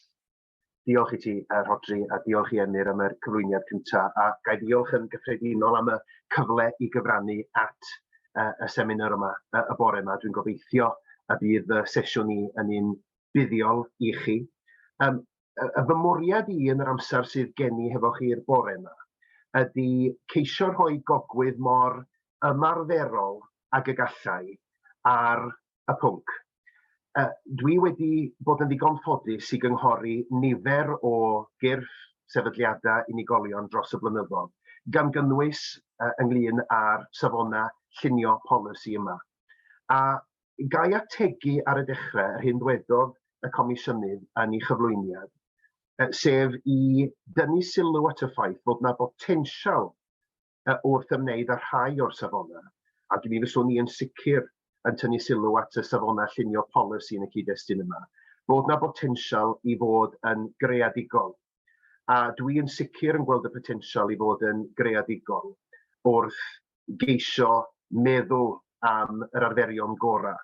Grêt. Diolch i ti, uh, Rhodri, a diolch i Emyr am y cyflwyniad cyntaf. A gai ddiolch yn gyffredinol am y cyfle i gyfrannu at uh, y seminar yma, uh, y bore yma. Dwi'n gobeithio y bydd y sesiwn i yn un buddiol i chi. Um, y fy mwriad i yn yr amser sydd gen i hefo chi'r bore yma ydy ceisio rhoi gogwydd mor ymarferol ag y gallai ar y pwnc. Uh, dwi wedi bod yn ddigon ffodus i gynghori nifer o gyrff sefydliadau unigolion dros y blynyddoedd, gan gynnwys uh, ynglyn â'r safonau llunio polisi yma. A gai ategu ar y dechrau yr hyn ddwedodd y Comisiynydd yn ei chyflwyniad, sef i dynnu sylw at y ffaith bod yna botensial wrth ymwneud â rhai o'r safonau, ac mi fyswn i yn sicr yn tynnu sylw at y safonau llunio polisi yn y cyd-destun yma, bod 'na botensial i fod yn greadigol, a dwi yn sicr yn gweld y potensial i fod yn greadigol wrth geisio meddwl am yr arferion gorau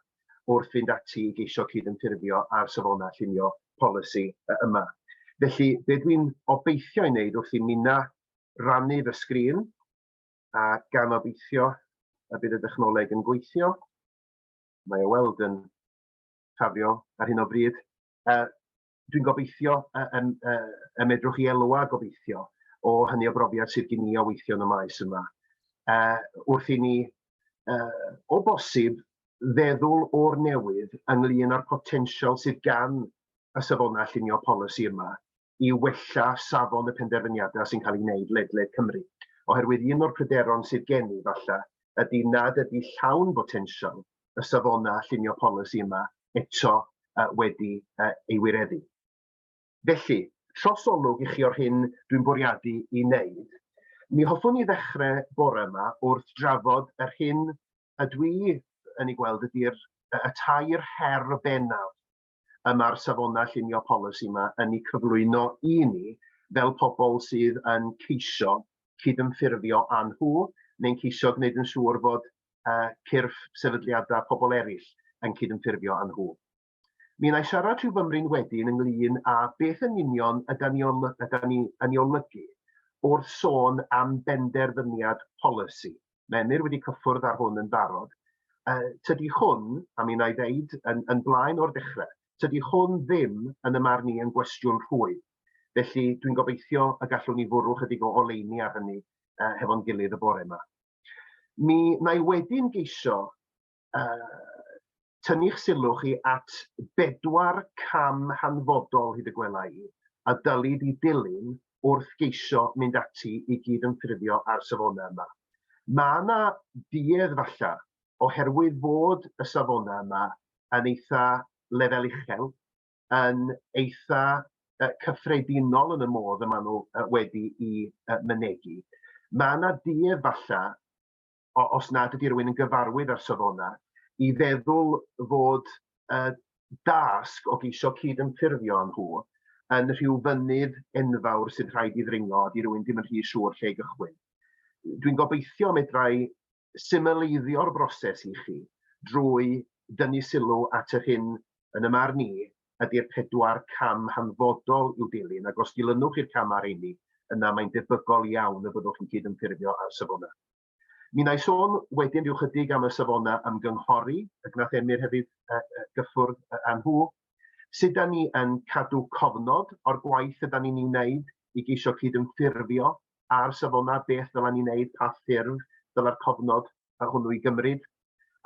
wrth fynd ati i geisio cydymffurfio â'r safonau llunio polisi yma. Felly, be dwi'n obeithio ei wneud wrth i Mina rannu fy sgrin a gan obeithio y bydd y dechnoleg yn gweithio. Mae o weld yn ffafrio ar hyn o bryd. Uh, Dwi'n gobeithio y, y, y, y medrwch i elwa gobeithio o hynny o brofiad sydd gen i o weithio yn y maes yma. Uh, wrth i ni, uh, o bosib, feddwl o'r newydd ynglyn â'r potensial sydd gan y safonau llunio polisi yma i wella safon y penderfyniadau sy'n cael eu gwneud ledled Cymru. Oherwydd un o'r pryderon sydd gen i, falle, ydy nad ydy llawn botensial y safonau llunio polisi yma eto uh, wedi uh, ei wireddu. Felly, trosolwg i chi o'r hyn dwi'n bwriadu i wneud. Mi hoffwn i ddechrau bore yma wrth drafod yr hyn y dwi yn ei gweld ydy'r y tair her bennaf y mae'r safonau llunio polisi yma yn eu cyflwyno i ni fel pobl sydd yn ceisio cydymffurfio â nhw neu'n ceisio gwneud yn siŵr fod uh, cyrff sefydliadau pobl eraill yn cydymffurfio â nhw. Mi wna i siarad rhyw fymryn wedyn ynglyn â beth yn union yda ni, ol, yda ni yn ei olygu wrth sôn am benderfyniad polisi. Menir wedi cyffwrdd ar hwn yn barod. Uh, tydi hwn, a mi wna i ddeud yn, yn blaen o'r dechrau, tydi hwn ddim yn y marn i yn gwestiwn rhwydd. Felly dwi'n gobeithio y gallwn ni fwrw chydig o oleini ar hynny uh, hefo'n gilydd y bore yma. Mi wna i wedyn geisio tynnu'ch sylw chi at bedwar cam hanfodol, hyd y gwela i, a dylid i dilyn wrth geisio mynd ati i gyd-ymffurfio â'r safona yma. Mae yna duedd falle, oherwydd fod y safona yma yn eitha lefel uchel, yn eitha cyffredinol yn y modd y maen nhw wedi i mynegi. Mae yna duedd falle os nad ydy rhywun yn gyfarwydd â'r safonau, i feddwl fod y dasg o geisio cyd-ymffurfio â nhw yn rhyw fynydd enfawr sydd rhaid i ddringo a di rhywun ddim yn rhy siŵr lle i gychwyn. Dwi'n gobeithio medrai symleiddio'r broses i chi drwy dynnu sylw at yr hyn yn y marn i ydy'r pedwar cam hanfodol i'w dilyn, ac os dilynwch i'r camau rheini, yna mae'n debygol iawn y byddwch yn cydymffurfio â'r safonau. Mi wna i sôn wedyn rhyw chydig am y safonau ymgynghori, y gwnaeth Emyr hefyd gyffwrdd â nhw. Sut da ni yn cadw cofnod o'r gwaith yda ni'n ei wneud i geisio cydymffurfio â'r safonau, beth ddylen ni wneud, pa ffurf ddyle'r cofnod a hwnnw i gymryd,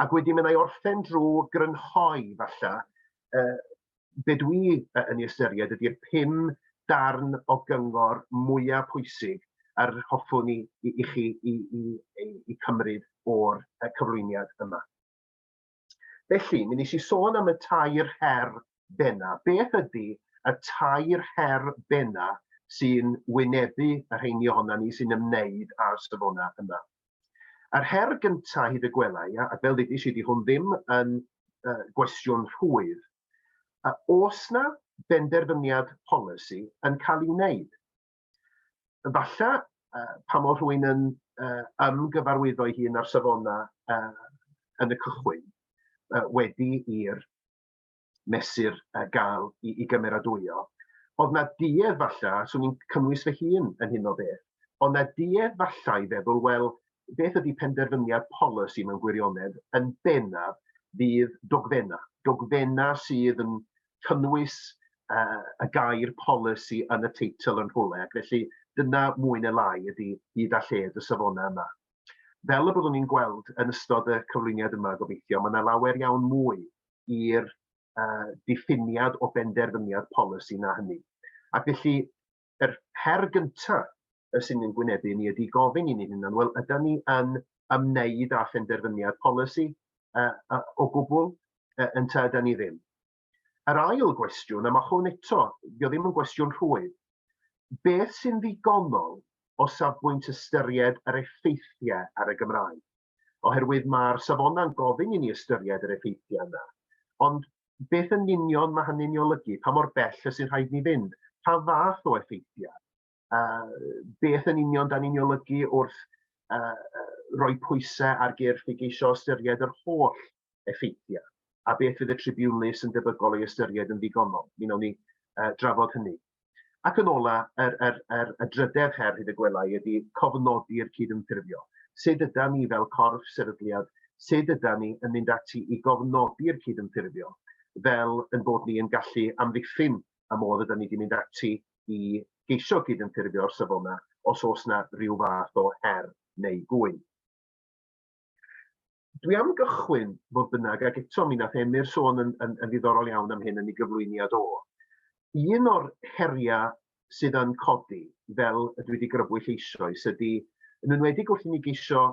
ac wedyn mae'n ei orffen drwy grynhoi, falle, uh, be dwi yn ei ystyried ydy'r pum darn o gyngor mwyaf pwysig a'r hoffwn i, i, i chi i, i, i, i cymryd o'r cyflwyniad yma. Felly, mi nes i sôn am y tair her benna. Beth ydy y tair her benna sy'n wynebu y rheini ohona ni sy'n ymwneud â'r safona yma? Yr her gyntaf hyd y gwelai, a fel ddudis i, di hwn ddim yn uh, gwestiwn rhwydd, a os na benderfyniad polisi yn cael ei wneud, Efallai, uh, pa mor rwy'n yn uh, ymgyfarwyddo ei hun ar safonau uh, yn y cychwyn, uh, wedi i'r mesur uh, gael i, i gymeradwyo. Oedd na duedd falle, swn i'n cynnwys fy hun yn hyn o beth, ond na duedd falle i feddwl, wel, beth ydy penderfyniad polisi mewn gwirionedd yn bennaf fydd dogfenna. Dogfenna sydd yn cynnwys uh, y gair polisi yn y teitl yn rhywle, ac felly dyna mwy neu lai ydy hyd a lled y safonau yma. Fel y byddwn ni'n gweld yn ystod y cyflwyniad yma, gobeithio, mae yna lawer iawn mwy i'r uh, diffiniad o benderfyniad polisi na hynny. Ac felly, yr her gynta' yy sy'n ein gwynebu ni ydi gofyn i ni'n hunan, wel ydan ni yn ymwneud â phenderfyniad polisi yy yy o gwbwl yy ynta ydan ni ddim? Yr ail gwestiwn, a ma' hwn eto, 'di o ddim yn gwestiwn rhwydd, beth sy'n ddigonol o safbwynt ystyried yr effeithiau ar y Gymraeg? oherwydd mae'r safonau'n gofyn i ni ystyried yr effeithiau yna. Ond beth yn union mae hynny'n ei olygu? Pa mor bell y sy'n rhaid ni fynd? Pa fath o effeithiau? Uh, beth yn union da ni'n ei olygu wrth uh, roi pwysau ar gyrff i geisio ystyried yr holl effeithiau? A beth fydd y tribiwnlys yn debygol ei ystyried yn ddigonol? Mi wnawn ni uh, drafod hynny. Ac yn ola, yr, yr, yr, y drydedd her, hyd y gwela i, ydy cofnodi'r cydymffurfio. Sut yda ni fel corff sefydliad, sut yda ni yn mynd ati i gofnodi'r cydymffurfio fel yn bod ni yn gallu amddiffyn y modd yda ni wedi mynd ati i geisio cydymffurfio o'r safona os oes yna rhyw fath o her neu gŵyn. Dwi am gychwyn, fodd bynnag, ac eto mi nath Emyr sôn yn, yn, yn ddiddorol iawn am hyn yn ei gyflwyniad o. Un o'r heriau sydd yn codi, fel y dwi wedi grybwyll eisoes, ydy, yn enwedig wrth i ni geisio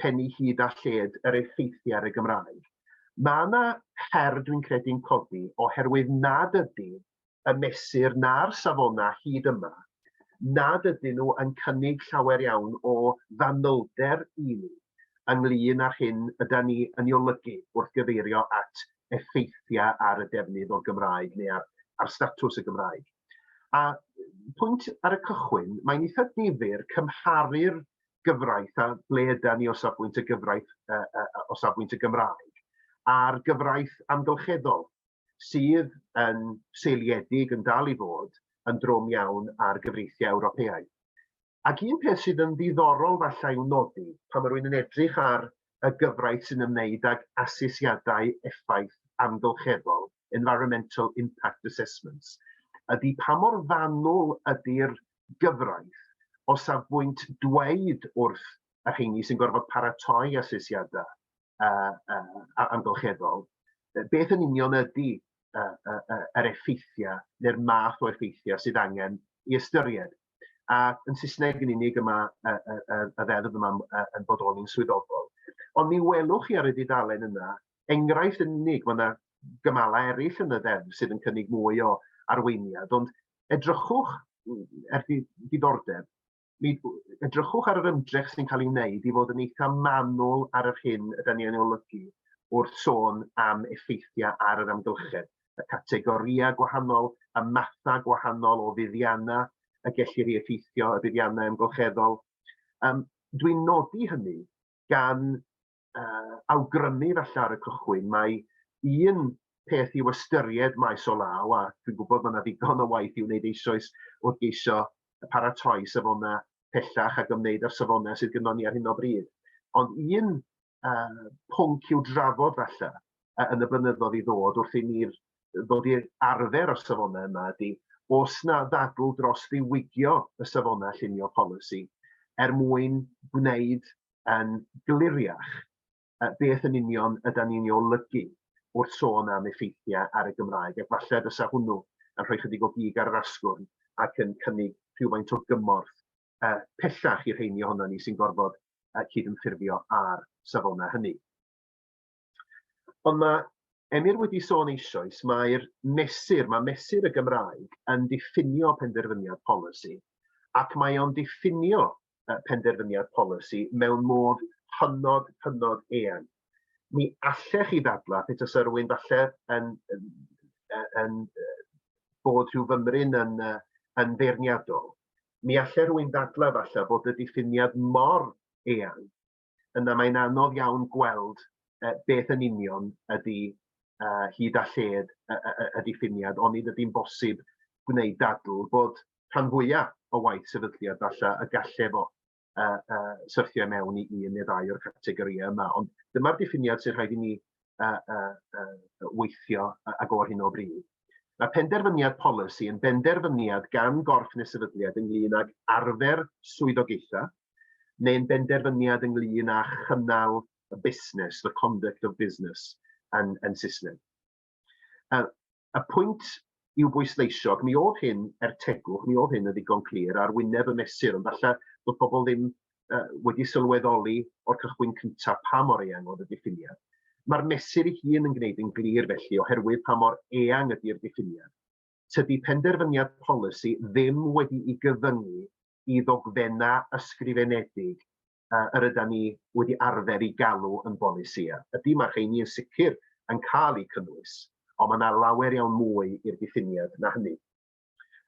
pennu hyd a lled yr effeithiau ar y Gymraeg. Mae yna her dwi'n credu'n codi oherwydd nad ydy y mesur na'r safonau hyd yma nad ydyn nhw yn cynnig llawer iawn o fanylder i ni ynglŷn â'r hyn ydan ni yn ei olygu wrth gyfeirio at effeithiau ar y defnydd o'r Gymraeg neu ar ar statws y Gymraeg. A pwynt ar y cychwyn, mae'n eitha difyr cymharu'r gyfraith a ble ydan ni o safbwynt y gyfraith uh, uh, o safbwynt y Gymraeg a'r gyfraith amgylcheddol. sydd yn seiliedig yn dal i fod yn drwm iawn ar gyfreithiau Ewropeaidd. Ac un peth sydd yn ddiddorol falle i'w nodi pan mae rhywun yn edrych ar y gyfraith sy'n ymwneud ag asesiadau effaith amgylcheddol, environmental impact assessments, ydy pa mor fanwl ydy'r gyfraith o safbwynt dweud wrth y rheini sy'n gorfod paratoi asesiadau uh, uh, amgylcheddol, beth yn union ydy uh, uh, uh, yr effeithiau neu'r math o effeithiau sydd angen i ystyried. A yn Saesneg yn unig yma y, y, y, y ddeddf yma yn bodoli'n swyddogol. Ond mi welwch chi ar y dudalen yna enghraifft yn unig, mae yna gymalau eraill yn y ddeddf sydd yn cynnig mwy o arweiniad, ond edrychwch er diddordeb mi edrychwch ar yr ymdrech sy'n cael ei wneud i fod yn eitha manwl ar yr hyn ydy ni yn olygu wrth sôn am effeithiau ar yr amgylchedd, y categorïau gwahanol, y mathau gwahanol o fuddiannau y gellir ei effeithio, y buddiannau amgylcheddol. Um, Dwi'n nodi hynny gan uh, awgrymu falle ar y cychwyn, mae un peth i'w ystyried maes o law, a dwi'n gwybod mae yna ddigon o waith i'w wneud eisoes wrth geisio paratoi safonau pellach ac ymwneud â'r safonau sydd gyda ni ar hyn o bryd. Ond un uh, pwnc i'w drafod falle uh, yn y blynyddoedd i ddod wrth i ni'r ddod i'r arfer o'r safonau yma ydy os na ddadl dros ddiwygio y safonau llunio polisi er mwyn gwneud yn gliriach beth yn union yda ni'n ei olygu wrth sôn am effeithiau ar y Gymraeg, ac falle fysa hwnnw yn rhoi chydig o gig ar yr asgwrn ac yn cynnig rhywfaint o gymorth uh, pellach i'r rheini ohono ni sy'n gorfod uh, cydymffurfio â'r safonau hynny. Ond mae Emyr wedi sôn eisoes, mae'r mesur, mae mesur y Gymraeg yn diffinio penderfyniad polisi, ac mae o'n diffinio penderfyniad polisi mewn modd hynod, hynod eang. Mi allech chi ddadla, Peter Syrwyn, falle yn, yn, yn, bod rhyw fymryn yn, yn feirniadol, mi allai rhywun ddadla falle bod y diffiniad mor eang yna mae'n anodd iawn gweld uh, beth yn union ydy uh, hyd a lled uh, uh, y diffiniad, ond nid ydy'n bosib gwneud dadl bod rhan fwyaf o waith sefydliad falle y galle fo uh, uh, syrthio mewn i un neu ddau o'r categorïau yma. Ond dyma'r diffiniad sy'n rhaid i ni uh, uh, uh, weithio ag o'r hyn o bryd. Mae penderfyniad polisi yn benderfyniad gan gorff neu sefydliad ynglyn ag arfer swyddogaethau neu'n benderfyniad ynglyn â chynnal y busnes, the conduct of business, yn, yn Saesneg. Uh, Y pwynt i'w bwysleisio, ac mi oedd hyn, er tegwch, mi oedd hyn yn ddigon clir ar wyneb y mesur, ond falle bod pobl ddim uh, wedi sylweddoli o'r cychwyn cyntaf pa mor eang oedd y diffiniad. Mae'r mesur ei hun yn gwneud yn glir felly oherwydd pa mor eang ydy'r diffiniad. Tydi penderfyniad polisi ddim wedi i gyfyngu i ddogfenna ysgrifenedig uh, yr yda ni wedi arfer i galw yn bolisïau. Ydy mae'r rheini yn sicr yn cael eu cynnwys, ond mae yna lawer iawn mwy i'r diffiniad na hynny.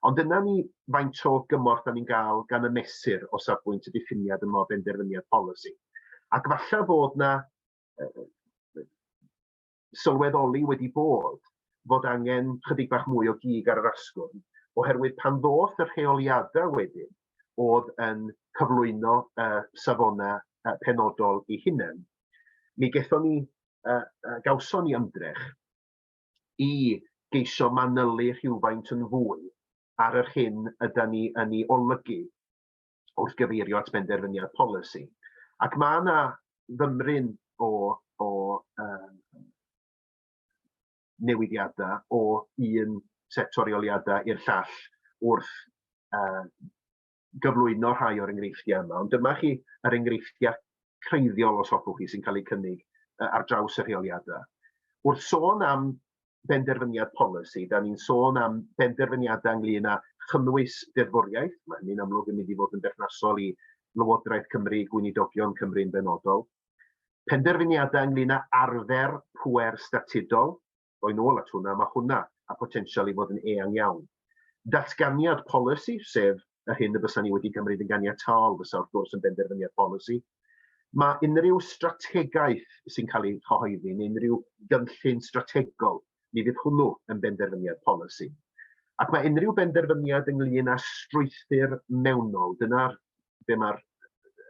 Ond dyna ni faint o gymorth da ni'n gael gan y mesur o safbwynt y diffiniad yma o benderfyniad polisi. Ac falle bod yna sylweddoli wedi bod fod angen chydig bach mwy o gig ar yr asgwrn, oherwydd pan ddoth y rheoliadau wedyn oedd yn cyflwyno y safonau uh, penodol i hunain, mi gethon ni, uh, uh, gawson ni ymdrech i geisio manylu rhywfaint yn fwy ar yr hyn yda ni yn ei olygu wrth gyfeirio at benderfyniad polisi. Ac mae yna fymryn o, o um, newidiadau o un set torioliadau i'r llall wrth uh, gyflwyno rhai o'r enghreifftiau yma. Ond dyma chi yr enghreifftiau creiddiol os hoffwch chi sy'n cael eu cynnig uh, ar draws y rheoliadau. Wrth sôn am benderfyniad polisi, da ni'n sôn am benderfyniadau ynglyn â chynnwys deddfwriaeth, mae hynny'n amlwg yn mynd i fod yn berthnasol i Lywodraeth Cymru, Gweinidogion Cymru'n benodol. Penderfyniadau ynglyn â arfer pwer statudol, roi'n ôl at hwnna, mae hwnna a potensial i fod yn eang iawn. Datganiad polisi, sef yr hyn y bysa ni wedi gymryd yn ganiataol fysa wrth gwrs yn benderfyniad polisi. Mae unrhyw strategaeth sy'n cael ei chyhoeddi neu unrhyw gynllun strategol, mi fydd hwnnw yn benderfyniad polisi. Ac mae unrhyw benderfyniad ynglyn â strwythur mewnol, dyna'r be mae'r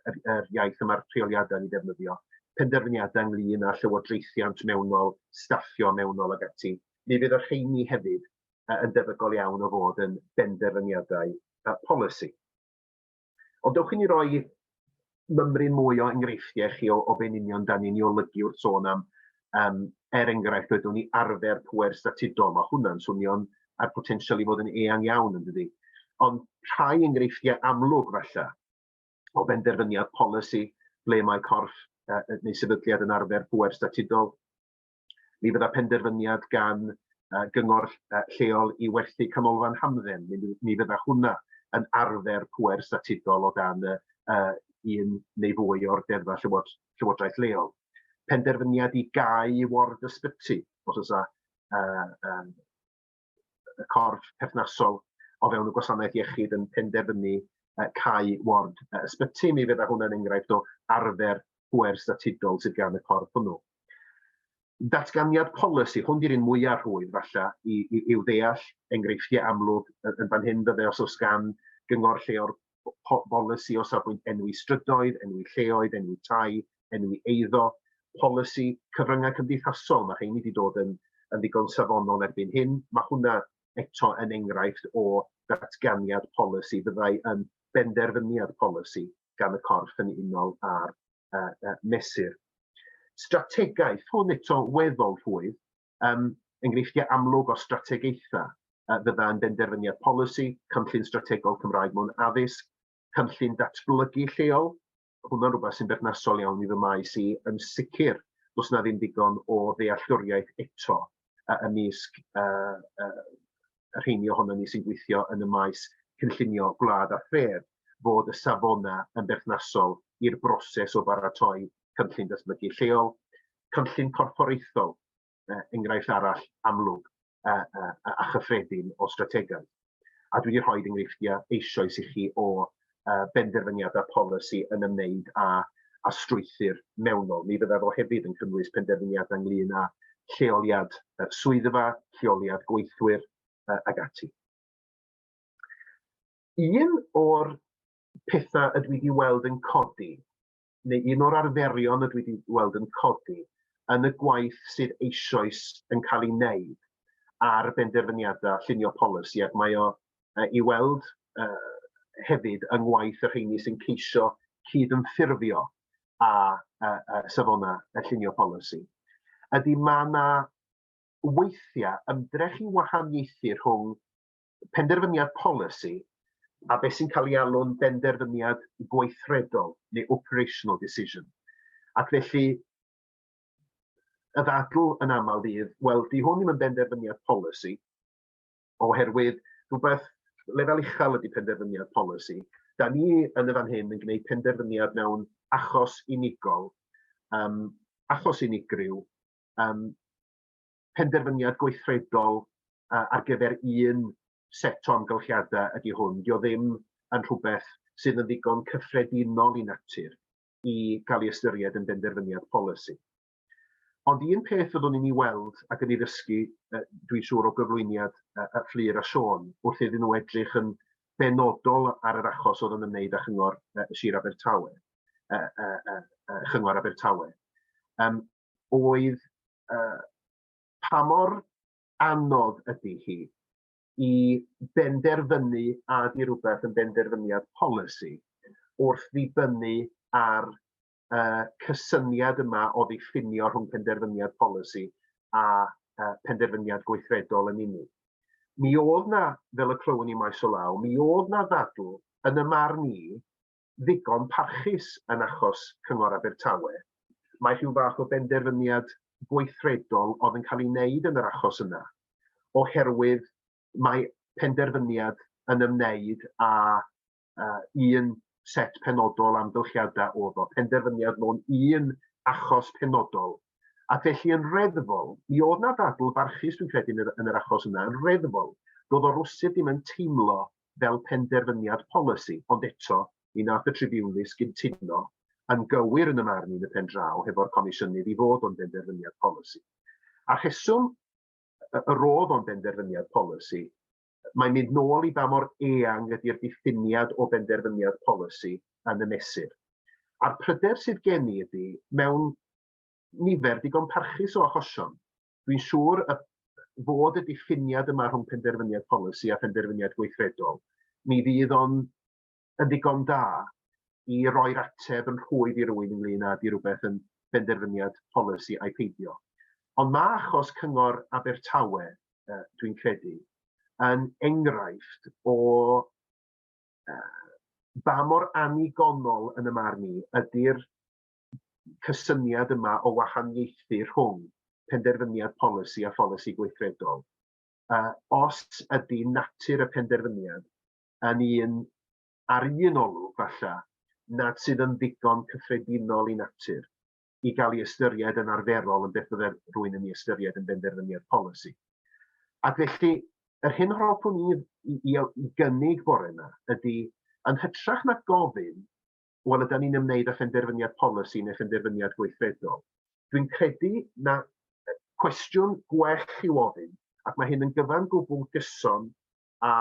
yr, yr iaith yma'r rheoliadau ni ddefnyddio, penderfyniadau ynglyn â llywodraethiant mewnol, staffio mewnol ag ati, mi fydd y rheini hefyd yn debygol iawn o fod yn benderfyniadau polisi. Ond dewch i ni roi mymryn mwy o enghreifftiau chi o, o be'n union da ni'n ei olygu wrth sôn am, um, er enghraifft, wedwn ni arfer pwer statudol. Mae hwnna'n swnio'n a'r potensial i fod yn eang iawn yn dydi. Ond rhai enghreifftiau amlwg falle o benderfyniad polisi ble mae corff uh, neu sefydliad yn arfer pwer statudol Mi fydda penderfyniad gan yy gyngor yy lleol i werthu canolfan hamdden, mi fy- mi fydda hwnna yn arfer pŵer statudol o dan y yy un neu fwy o'r deddfa llywod- llywodraeth leol. Penderfyniad i gau ward ysbyty, os o's 'a yy yym y corff perthnasol o fewn y gwasanaeth iechyd yn penderfynu uh, cau ward uh, ysbyty, mi fydda hwnna'n enghraifft o arfer pwer statudol sydd gan y corff hwnnw. Datganiad polisi, hwn di'r un mwyaf rhwydd falle i, i, i'w ddeall, enghreifftiau amlwg yn fan hyn fydde os oes gan gyngor lle o'r polisi o safbwynt enwi strydoedd, enwi lleoedd, enwi tai, enwi eiddo, polisi cyfryngau cymdeithasol, mae rheini wedi dod yn, yn ddigon safonol erbyn hyn. Mae hwnna eto yn enghraifft o ddatganiad polisi, fyddai yn benderfyniad polisi gan y corff yn unol â'r uh, uh, mesur. Strategaeth, hwn eto weddol rhwydd, um, enghreifftiau amlwg o strategaethau uh, fydda yn benderfyniad polisi, cynllun strategol Cymraeg mewn addysg, cynllun datblygu lleol, hwnna'n rhywbeth sy'n berthnasol iawn i fy maes i, yn sicr, does na ddim digon o ddealltwriaeth eto uh, ymysg uh, uh, rheini ohono ni sy'n gweithio yn y maes cynllunio gwlad a thref fod y safonau yn berthnasol i'r broses o baratoi cynllun datblygu lleol, cynllun corfforaethol, uh, enghraifft arall amlwg uh, uh, a chyffredin o strategaeth. A dwi wedi rhoi enghreifftiau eisoes i chi o uh, benderfyniadau polisi yn ymwneud â, a strwythyr mewnol. Mi fyddai fo hefyd yn cynnwys penderfyniadau ynglyn â lleoliad uh, swyddfa, lleoliad gweithwyr uh, ag ati. Un o'r pethau ydw i wedi weld yn codi neu un o'r arferion y dwi 'di weld yn codi yn y gwaith sydd eisoes yn cael ei wneud ar benderfyniadau llunio polisi, ac mae o uh, i weld uh, hefyd yng ngwaith y rheini sy'n ceisio cyd-ymffurfio a, a, a safonau y llunio polisi, ydy mae yna weithiau ymdrech i wahaniaethu rhwng penderfyniad polisi a beth sy'n cael ei alw'n benderfyniad gweithredol neu operational decision. Ac felly, y ddadl yn aml fydd, wel, di hwn ddim yn benderfyniad polisi, oherwydd rhywbeth lefel uchel ydy penderfyniad polisi. Da ni yn y fan hyn yn gwneud penderfyniad mewn achos unigol, um, achos unigryw, um, penderfyniad gweithredol uh, ar gyfer un set o amgylchiadau ydy hwn. Dio ddim yn rhywbeth sydd yn ddigon cyffredinol i natur i gael ei ystyried yn benderfyniad polisi. Ond un peth fyddwn ni'n ei weld ac yn ei ddysgu, uh, dwi'n siŵr o gyflwyniad uh, uh, Fflur a Siôn, wrth iddyn nhw edrych yn benodol ar yr achos oedd yn ymwneud â chyngor uh, Sir Abertawe, uh, uh, uh, chyngor Abertawe. Um, oedd yy pa mor anodd ydi hi i benderfynu a ydi rywbeth yn benderfyniad polisi wrth ddibynnu ar yy cysyniad yma o ddiffinio rhwng penderfyniad polisi a yy penderfyniad gweithredol yn unig. Mi oedd 'na, fel y clywon ni maes o law, mi oedd 'na ddadl yn y marn i ddigon parchus yn achos Cyngor Abertawe. Mae rhyw fath o benderfyniad gweithredol oedd yn cael ei wneud yn yr achos yna, oherwydd mae penderfyniad yn ymwneud â uh, un set penodol amgylchiadau oedd o, penderfyniad mewn un achos penodol. A felly yn reddfol, mi oedd na ddadl barchus dwi'n credu yn yr, yn yr achos yna, yn reddfol, doedd o rwsyd ddim yn teimlo fel penderfyniad polisi, ond eto, ni wnaeth y tribiwnlys gyntuno yn gywir yn y marn i yn y pen draw hefo'r Comisiynydd i fod o'n benderfyniad polisi. A'r rheswm y y roedd o'n benderfyniad polisi, mae'n mynd nôl i ba mor eang ydy'r diffiniad o benderfyniad polisi yn y mesur. A'r pryder sydd gen i ydy, mewn nifer digon parchus o achosion, Dwi'n siŵr y fod y diffiniad yma rhwng penderfyniad polisi a phenderfyniad gweithredol, mi fydd o'n yn ddigon da i roi'r ateb yn rhwydd i rywun ynglyn â di rhywbeth yn benderfyniad polisi a'i peidio. Ond mae achos Cyngor Abertawe, uh, dwi'n credu, yn enghraifft o uh, ba mor annigonol yn y marn i ydy'r cysyniad yma o wahaniaethu rhwng penderfyniad polisi a pholisi gweithredol. Uh, os ydy natur y penderfyniad yn un ar un olwg falle nad sydd yn ddigon cyffredinol i natur i gael ei ystyried yn arferol yn beth byddai rwy'n yn ei ystyried yn benderfyniad polisi. Ac felly, yr hyn hoffwn i, i, i, i gynnig bore yma ydy, yn hytrach na gofyn wel ydan ni'n ymwneud â phenderfyniad polisi neu phenderfyniad gweithredol. Dwi'n credu na cwestiwn gwell i'w ofyn, ac mae hyn yn gyfan gwbl gyson â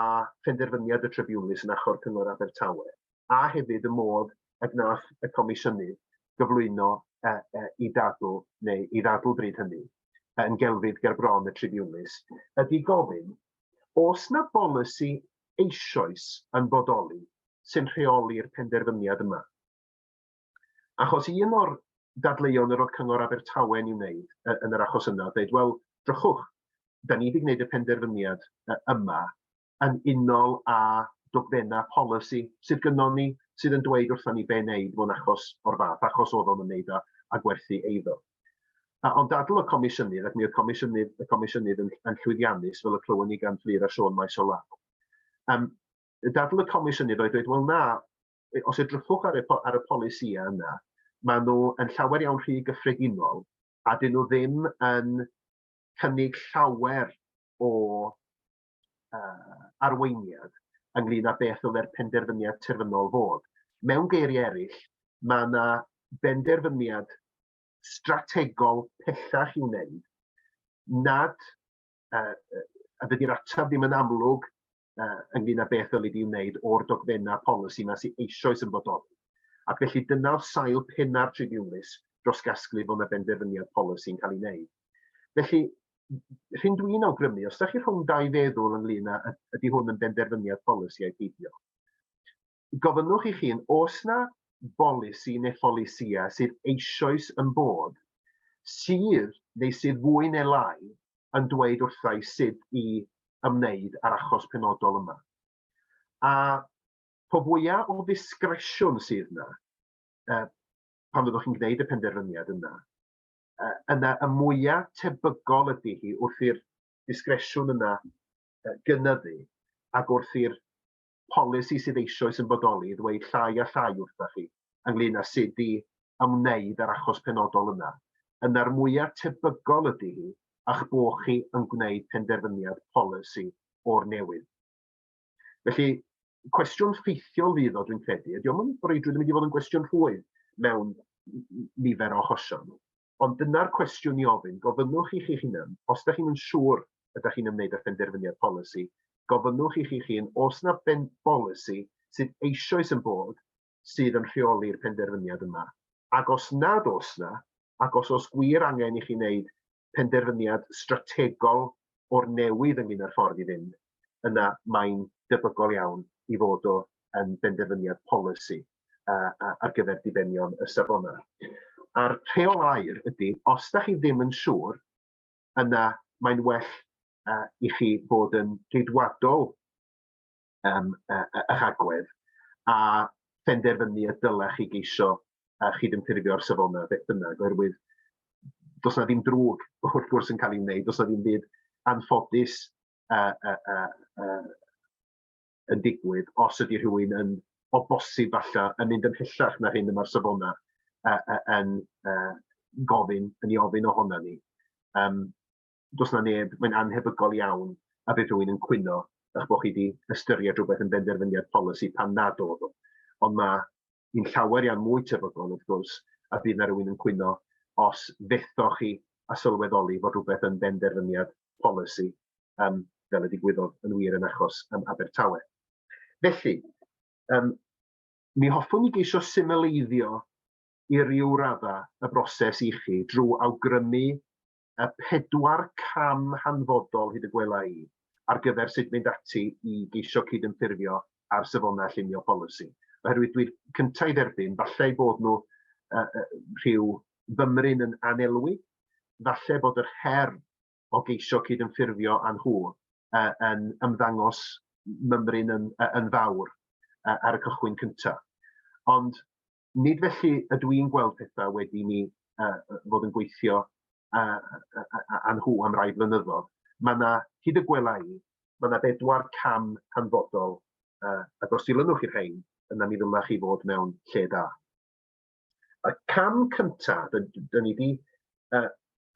phenderfyniad y tribiwnlys yn achor Cyngor Abertawe, a hefyd y modd y gwnaeth y Comisiynydd gyflwyno uh, uh, i dadl, neu i ddadl bryd hynny, yn gelfydd gerbron y tribiwnlys, ydy gofyn, os na bolisi eisoes yn bodoli sy'n rheoli'r penderfyniad yma. Achos un o'r dadleuon yr oedd Cyngor Abertawe'n i'w wneud yn yr achos yna, dweud, wel, drychwch, da ni wedi gwneud y penderfyniad yma yn unol â dogfennau polisi sydd gynnon ni sydd yn dweud wrthon ni be wneud mewn achos o'r fath, achos oedd o'n ymwneud â, â gwerthu eiddo. A, ond dadl y Comisiynydd, ac mi oedd Comisiynydd, y Comisiynydd yn, yn llwyddiannus, fel y clywon ni gan Fleer a Siôn maes o law. Um, dadl y Comisiynydd oedd dweud, wel na, os edrychwch ar y, ar y polisïau yna, maen nhw yn llawer iawn rhy gyffredinol a dyn nhw ddim yn cynnig llawer o arweiniad ynglyn â beth ddylai'r penderfyniad terfynol fod. Mewn geiriau eraill, mae yna benderfyniad strategol pellach i'w wneud nad uh, a dydy'r ateb ddim yn amlwg uh, ynglyn â beth ddylid i'w wneud o'r dogfennau polisi yma sy'n eisoes yn bodoli. Ac felly dyna oedd sail penna'r tribiwnlys dros gasglu bod yna benderfyniad polisi'n cael ei wneud. Felly, hyn dwi'n awgrymu, os ydych chi rhwng dau feddwl ynglyn â ydy hwn yn benderfyniad polisi a'i peidio, gofynnwch i chi'n os na bolisi neu pholisïa sydd eisoes yn bod sydd neu sydd fwy neu lai yn dweud wrtha i sut i ymwneud â'r achos penodol yma. A po fwyaf o ddisgresiwn sydd yna, pan fyddwch chi'n gwneud y penderfyniad yna, yna y mwya tebygol ydy hi wrth i'r disgresiwn yna gynyddu ac wrth i'r polisi sydd eisoes yn bodoli ddweud llai a llai wrthych chi ynglyn â sut i ymwneud â'r achos penodol yna, yna'r mwya tebygol ydy hi a'ch bod chi yn gwneud penderfyniad polisi o'r newydd. Felly, cwestiwn ffeithiol fydd o, dwi'n credu, ydy o'n breuddwyd yn mynd i fod yn gwestiwn rhwydd mewn nifer o achosion. Ond dyna'r cwestiwn i ofyn, gofynnwch i chi'ch hunan, os ydych chi'n siŵr ydych chi'n ymwneud â phenderfyniad polisi, gofynnwch i chi'ch hun os yna ben bolisi sydd eisoes yn bod sydd yn rheoli'r penderfyniad yma, ac os nad oes yna, ac os oes gwir angen i chi wneud penderfyniad strategol o'r newydd ynglyn â'r ffordd i fynd, yna mae'n debygol iawn i fod o yn benderfyniad polisi ar gyfer dibenion y safonau. A'r rheol air ydy, os da chi ddim yn siŵr, yna mae'n well i chi fod yn geidwadol um, eich agwedd a phenderfynu y dylech chi geisio a chydymffurfio'r safonau beth bynnag, oherwydd does na ddim drwg wrth gwrs yn cael ei wneud, does na ddim byd anffodus uh, uh, uh, uh, yn digwydd os ydy rhywun yn o bosib falle yn mynd yn hellach na'r hyn yma'r safona yn gofyn, yn ei ofyn ohona ni. Um, does yna neb, mae'n annhebygol iawn a bydd rhywun yn cwyno eich bod chi wedi ystyried rhywbeth yn benderfyniad polisi pan nad oedd o. Ond mae hi'n llawer iawn mwy tebygol, wrth gwrs, a bydd yna rhywun yn cwyno os fethoch chi a sylweddoli fod rhywbeth yn benderfyniad polisi, um, fel y digwyddodd yn wir yn achos um, Abertawe. Felly, um, mi hoffwn i geisio symleiddio i ryw raddau y broses i chi drwy awgrymu y pedwar cam hanfodol, hyd y gwela i, ar gyfer sut mynd ati i geisio cydymffurfio â'r Safonau Llunio Polisi. Oherwydd dwi'n cyntaf i dderbyn, falle ei bod nhw uh, rhyw fymryn yn anelwi, falle bod yr her o geisio cydymffurfio â nhw uh, yn ymddangos mymryn yn, uh, yn fawr uh, ar y cychwyn cyntaf. Ond nid felly ydw i'n gweld pethau wedi mi uh, fod yn gweithio uh, â nhw am rai blynyddoedd. Mae yna, hyd y gwela i, mae yna bedwar cam hanfodol, uh, ac os dilynwch i'r rhain, yna mi ddylech chi fod mewn lle da. Y cam cyntaf, dyn ni wedi uh,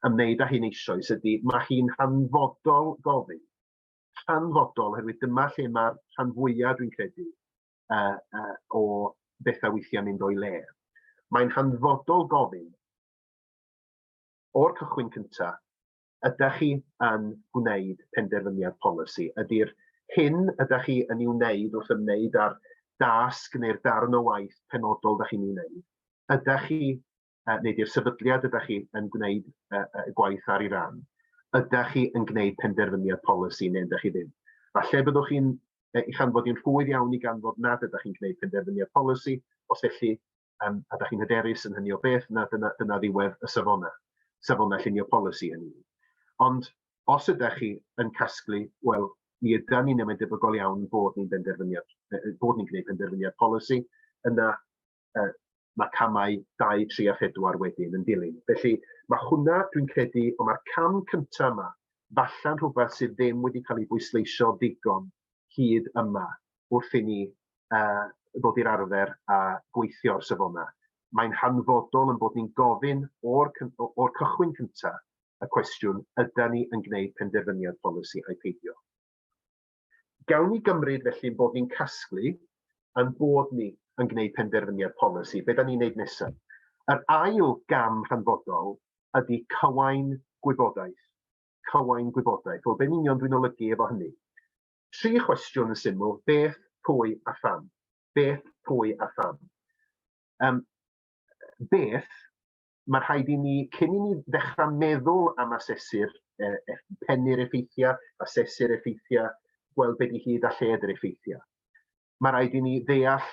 ymwneud â hyn eisoes, ydy mae hi'n hanfodol gofyn. Hanfodol, oherwydd dyma lle mae'r rhan fwyaf, dwi'n credu, uh, uh, o bethau weithiau mynd o'i le. Mae'n hanfodol gofyn o'r cychwyn cyntaf, ydych chi yn gwneud penderfyniad polisi? Ydy'r hyn ydych chi yn ei wneud wrth ymwneud â'r dasg neu'r darn o waith penodol ydych chi'n ei wneud? Ydych chi uh, neu di'r sefydliad ydych chi yn gwneud uh, uh, gwaith ar ei ran, ydych chi yn gwneud penderfyniad polisi neu ydych chi ddim. Falle byddwch chi'n eich anfod i'n rhwydd iawn i ganfod nad ydych chi'n gwneud penderfyniad polisi, os felly, um, a ydych chi'n hyderus yn hynny o beth, na dyna, dyna ddiwedd y safona, safona llunio polisi hynny. Ond os ydych chi yn casglu, wel, mi yda ni'n ymwneud debygol iawn bod ni'n benderfyniad, bod ni'n gwneud penderfyniad polisi, yna uh, mae camau 2, 3 a 4 wedyn yn dilyn. Felly mae hwnna, dwi'n credu, ond mae'r cam cyntaf yma, falle'n rhywbeth sydd ddim wedi cael ei bwysleisio ddigon hyd yma wrth i ni uh, ddod i'r arfer a gweithio o'r safona. Mae'n hanfodol yn bod ni'n gofyn o'r, or cychwyn cyntaf y cwestiwn, ydy ni yn gwneud penderfyniad polisi a'i peidio? Gawn ni gymryd felly ein bod ni'n casglu, ein bod ni yn gwneud penderfyniad polisi, be da ni'n wneud nesaf? Yr ail gam hanfodol ydy cywain gwybodaeth. Cywain gwybodaeth. Wel, be'n union dwi'n olygu efo hynny? Tri chwestiwn yn syml, beth, pwy a pham. Beth, pwy a pham. Um, beth, mae rhaid i ni, cyn i ni ddechrau meddwl am asesu'r e, e, pennu'r effeithiau, asesu'r effeithiau, gweld beth i hyd a lled yr effeithiau. Mae rhaid i ni ddeall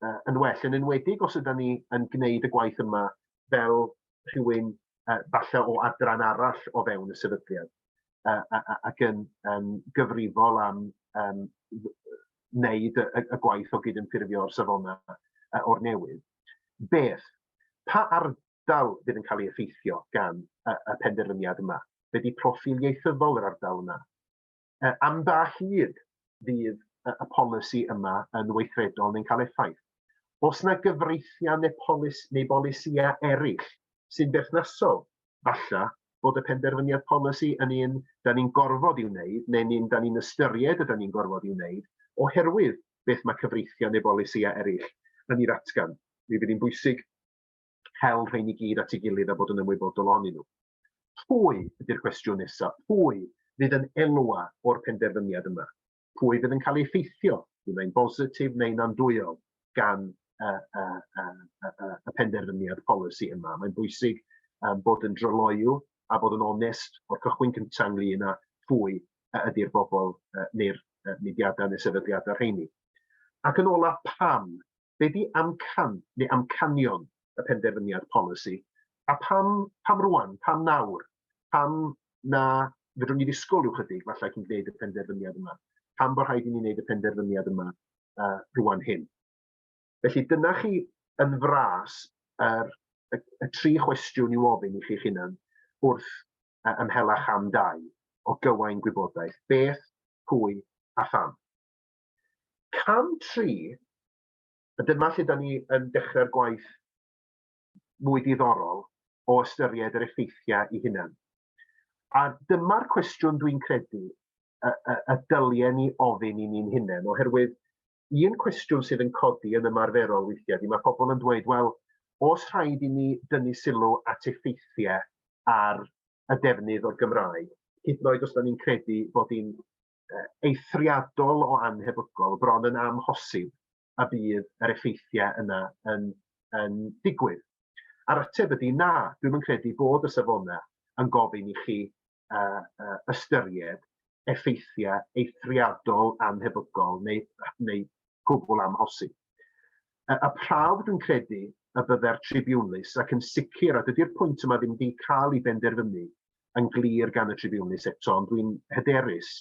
uh, yn well, yn enwedig os ydym ni yn gwneud y gwaith yma fel rhywun uh, falle o adran arall o fewn y sefydliad uh, ac yn um, gyfrifol am um, wneud y, y, y gwaith o gydymffurfio'r safonau uh, o'r newydd. Beth, pa ardal fydd yn cael ei effeithio gan y, y penderfyniad yma? Be di proffil ieithyddol yr ardal yna? E, am dall hyd fydd y, y polisi yma yn weithredol neu'n cael effaith? Os yna gyfreithiau neu, polis, neu bolisïau eraill sy'n berthnasol, falle bod y penderfyniad polisi yn un da ni'n gorfod i'w wneud, neu'n un da ni'n ystyried y da ni'n gorfod i'w wneud, oherwydd beth mae cyfreithiau neu bolisïau eraill yn ei ddatgan. Mi fydd hi'n bwysig hel rhain i gyd at ei gilydd a bod yn ymwybodol ohonyn nhw. Pwy ydy'r cwestiwn nesaf? Pwy fydd yn elwa o'r penderfyniad yma? Pwy fydd yn cael ei effeithio, un mae'n bositif neu'n andwyol, gan y, y, y, y, y penderfyniad polisi yma? Mae'n bwysig um, bod yn dryloyw a bod yn onest o'r cychwyn cyntaf ynglyn â phwy y ydy'r bobl uh, neu'r uh, mudiadau neu sefydliadau rheini. Ac yn ola, pam? Be di amcan neu amcanion y penderfyniad polisi? A pam, pam rwan? Pam nawr? Pam na fedrwn ni ddisgwyl rhyw chydig falle cyn gwneud y penderfyniad yma? Pam bod rhaid i ni wneud y penderfyniad yma uh, rwan hyn? Felly dyna chi yn fras yr, y, y tri chwestiwn i'w ofyn i chi'ch hunan wrth yy ymhellach am dai o gywain gwybodaeth, beth, pwy a pham. Cam tri, a dyma lle da ni yn dechrau'r gwaith mwy diddorol o ystyried yr effeithiau i hunan. A dyma'r cwestiwn dwi'n credu y, y, y dylien ni ofyn i ni'n hunain, oherwydd un cwestiwn sydd yn codi yn ymarferol weithiau ydy mae pobl yn dweud, wel, os rhaid i ni dynnu sylw at effeithiau ar y defnydd o'r Gymraeg, hyd yn oed os da ni'n credu bod hi'n eithriadol o anhebygol, bron yn amhosib y bydd yr effeithiau yna yn, yn digwydd. A'r ateb ydy na, dwi'n yn credu bod y safonau yn gofyn i chi ystyried effeithiau eithriadol annhebygol neu, neu gwbl amhosib. Y, y prawf dwi'n credu y bydde'r tribiwnlys ac yn sicr, a dydy'r pwynt yma ddim wedi cael ei benderfynu yn glir gan y tribiwnlys eto, ond dwi'n hyderus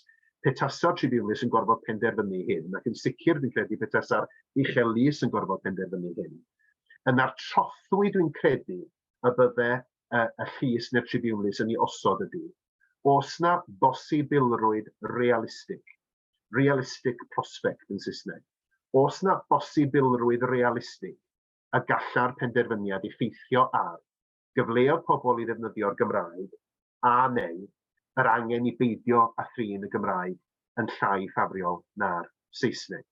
pe tasa'r tribiwnlys yn gorfod penderfynu hyn, ac yn sicr fi'n credu pe tasa'r uchel lys yn gorfod penderfynu hyn, yna'r trothwy dwi'n credu y bydde y, y llys neu'r tribiwnlys yn ei osod ydy, oes na bosibilrwydd realistig, realistic prospect yn Saesneg, oes na bosibilrwydd realistig y gallai'r penderfyniad effeithio ar gyfleoedd pobl i ddefnyddio'r Gymraeg a neu yr angen i beidio â thrin y Gymraeg yn llai ffafriol na'r Saesneg.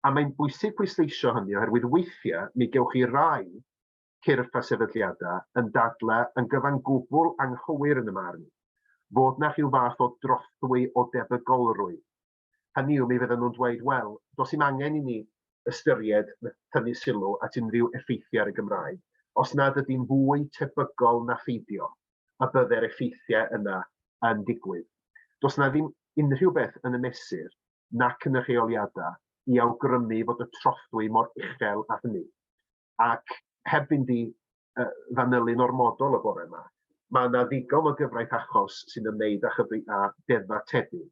A mae'n bwysig pwysleisio hynny oherwydd weithiau mi gewch chi rai cyrff a sefydliadau yn dadlau yn gyfan gwbl anghywir yn y marn, fod 'na rhyw fath o drothwy o debygolrwydd. Hynny yw, mi fyddan nhw'n dweud, wel, does dim angen i ni ystyried na thynnu sylw at unrhyw effeithiau ar y Gymraeg, os nad ydy'n fwy tebygol na pheidio, y bydde'r effeithiau yna yn digwydd. Does 'na ddim unrhyw beth yn y mesur nac yn y rheoliadau i awgrymu fod y trothwy mor uchel â hynny. Ac heb fynd i uh, fanylu'n ormodol y bore yma, mae yna ddigon o gyfraith achos sy'n ymwneud â, chyfri, â deddfa tebyg,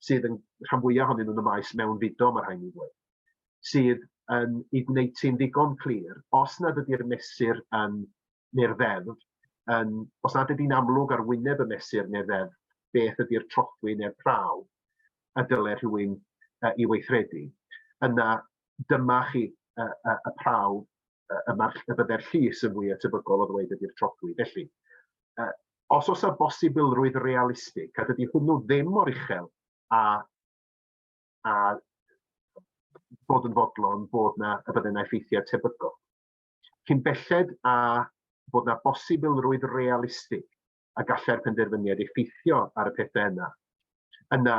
sydd yn rhan fwyaf ohonyn nhw'n y maes mewn fudo, mae'r rhain i ddweud, sydd yn ei gwneud ti'n ddigon clir, os nad ydy'r mesur yn neu'r ddeddf, yn, os nad ydy'n amlwg ar wyneb y mesur neu'r ddeddf, beth ydy'r trothwy neu'r prawf y dylai rhywun uh, i weithredu, yna dyma chi y, y, y prawf y, y, y byddai'r llys yn fwy atebygol o ddweud ydy'r troglu. Felly, uh, os oes y bosibilrwydd realistig, a dydy hwnnw ddim mor uchel a, a bod yn fodlon bod na y byddai na effeithiau tebygol. Cyn belled a bod na bosibilrwydd realistig y gallai'r penderfyniad effeithio ar y pethau yna, yna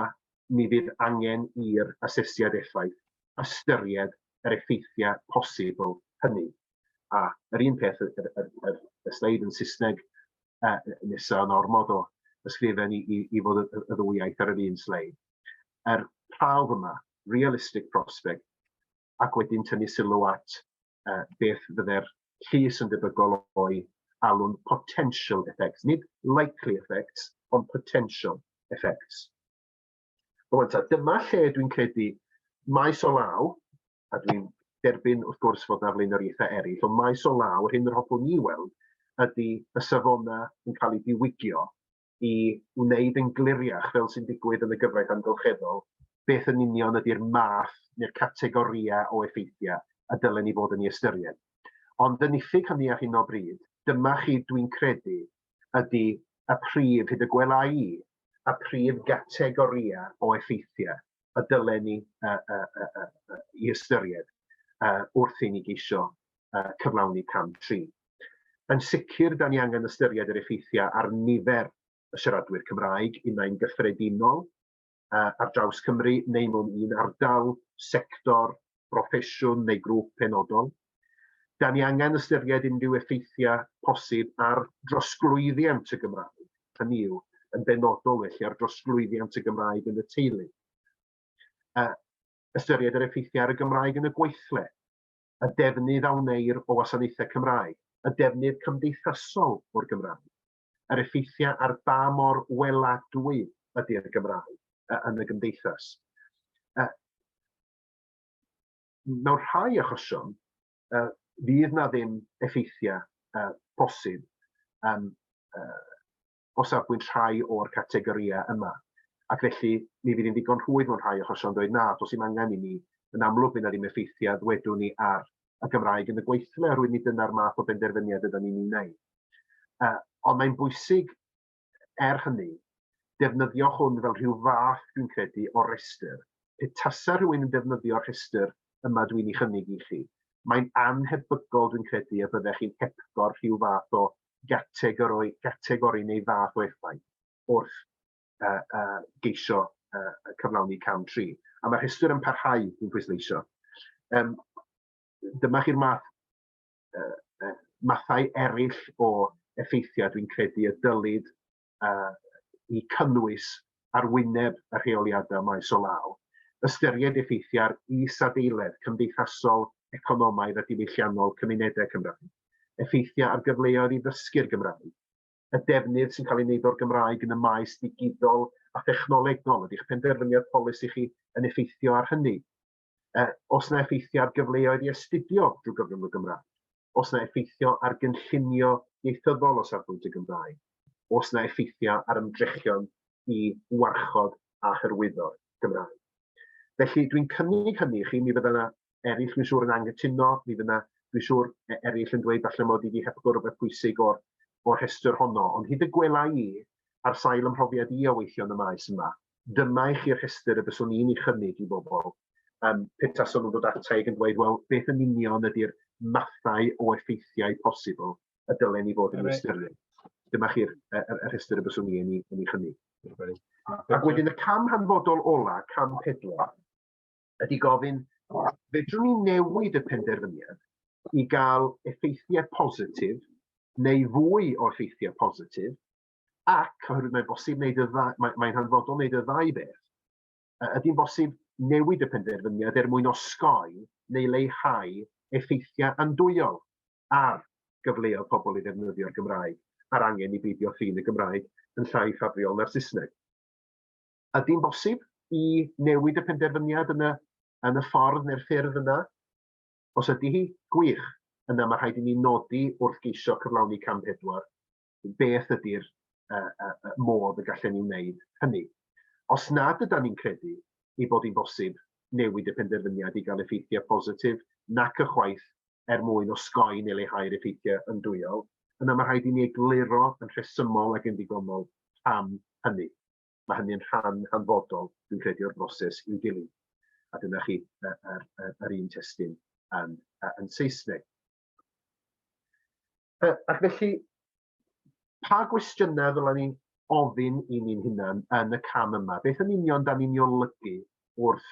mi fydd angen i'r asesiad effaith ystyried yr effeithiau posibl hynny. A yr un peth, y, y, y, y sleid yn Saesneg uh, nesaf yn ormod o ysgrifen i, i, i fod y, y ddwy iaith ar yr un sleid. Yr prawf yma, realistic prospect, ac wedyn tynnu sylw at uh, beth fydde'r llys yn debygol o'i alw'n potential effects, nid likely effects, ond potential effects. Rwan ta, dyma lle dwi'n credu maes o law, a dwi'n derbyn wrth gwrs fod na flaenoriaethau eraill, ond maes o law, yr hyn yr hoffwn ni weld, ydy y safonau yn cael eu diwygio i wneud yn gliriach, fel sy'n digwydd yn y gyfraith amgylcheddol, beth yn union ydy'r math neu'r categorïau o effeithiau y dylen ni fod yn ei ystyried. Ond yn iffyg hynny ar hyn o bryd, dyma chi, dwi'n credu, ydy y prif, hyd y gwela i, y prif gategorïau o effeithiau y dylen ni uh, uh, uh, uh, uh, i ystyried uh, wrth i ni geisio uh, cyflawni cam 3. Yn sicr, da ni angen ystyried yr effeithiau ar nifer y siaradwyr Cymraeg, unai'n gyffredinol, ar draws Cymru, neu mewn un ardal, sector, broffesiwn neu grŵp penodol. Da ni angen ystyried unrhyw effeithiau posib ar drosglwyddiant y Gymraeg, hynny yw, yn benodol felly ar drosglwyddiant y Gymraeg yn y teulu. Ystyried yr effeithiau ar y Gymraeg yn y gweithle. y defnydd a wneir o wasanaethau Cymraeg, y defnydd cymdeithasol o'r Gymraeg, yr effeithiau ar ba mor weladwy ydy'r Gymraeg yn y gymdeithas. Mewn rhai achosion, fydd na ddim effeithiau posib o safbwynt rhai o'r categorïau yma, ac felly mi fydd hi'n ddigon rhwydd mewn rhai achosion dweud na, does dim angen i ni, yn amlwg fydd yna ddim effeithiau, ddwedwn ni, ar y Gymraeg yn y gweithle, oherwydd nid dyna'r math o benderfyniad ydan ni'n ei wneud. Uh, ond mae'n bwysig, er hynny, defnyddio hwn fel rhyw fath, dwi'n credu, o restr. Pe tasa rhywun yn defnyddio'r rhestr yma dwi'n ei chynnig i chi, mae'n anhebygol, dwi'n credu, y byddech chi'n hepgor rhyw fath o gategori, gategori neu fath o effaith wrth uh, uh, geisio uh, cyflawni cam 3. A mae'r rhestr yn parhau i'n pwysleisio. Um, dyma chi'r math, uh, uh, mathau eraill o effeithiau dwi'n credu y dylid i cynnwys ar wyneb y rheoliadau maes o law, ystyried effeithiau'r isadeiledd cymdeithasol, economaidd a diwylliannol cymunedau Cymraeg, effeithiau ar gyfleoedd i ddysgu'r Gymraeg, y defnydd sy'n cael ei wneud o'r Gymraeg yn y maes digidol a thechnolegol, ydy'ch penderfyniad polisi chi yn effeithio ar hynny? Uh, os na effeithio ar gyfleoedd i astudio drwy gyfrwng y Gymraeg, os na effeithio ar gynllunio ieithyddol o safbwynt y Gymraeg, os na effeithio ar ymdrechion i warchod a hyrwyddo'r Gymraeg. Felly, dwi'n cynnig hynny i chi, mi fydda yna eraill, dwi'n siŵr, yn anghytuno, mi fydda, dwi'n siŵr, e- eraill yn dweud falle mod i wedi hepgor rhywbeth pwysig o'r, o'r rhestr honno, ond hyd y gwela i, ar sail ymhrofiad i o weithio yn y maes yma, dyma i chi rhestr y byswn i'n ei chynnig i bobl um, pe tason nhw'n dod ata i yn dweud, wel, beth yn union ydy'r mathau o effeithiau posibl y dylen ni fod yn ystyried. Dyma chi'r rhestr y byswn i yn ei chynnig. Ac wedyn y cam hanfodol ola, cam pedwar, ydy gofyn, fedrwn ni newid y penderfyniad i gael effeithiau positif neu fwy o effeithiau positif ac oherwydd mae'n bosib wneud y ddau, mae, mae'n hanfodol wneud y ddau beth, ydy'n bosib newid y penderfyniad er mwyn osgoi neu leihau effeithiau andwyol ar gyfleoedd pobl i ddefnyddio'r Gymraeg a'r angen i beidio ffin y Gymraeg yn llai ffafriol na'r Saesneg. Ydy'n bosib i newid y penderfyniad yn y, yn y ffordd neu'r ffyrdd yna? Os ydy hi, gwych, yna mae rhaid i ni nodi wrth geisio cyflawni cam pedwar beth ydy'r uh, uh, uh, modd y gallen ni wneud hynny. Os nad ydy'n ni'n credu ei bod hi'n bosib newid y penderfyniad i gael effeithiau positif nac ychwaith er mwyn osgoi neu leihau'r effeithiau yndwyol, yna mae rhaid i ni egluro yn rhesymol ac yn ddigonol pam hynny. Mae hynny yn rhan hanfodol, dwi'n credu, o'r broses i'w dilyn. A dyna chi yr, yr, yr un testyn yn, yn Saesneg. Uh, ac felly, pa gwestiynau ddylen ni'n ofyn i ni'n hunan yn y cam yma? Beth yn union da ni'n olygu wrth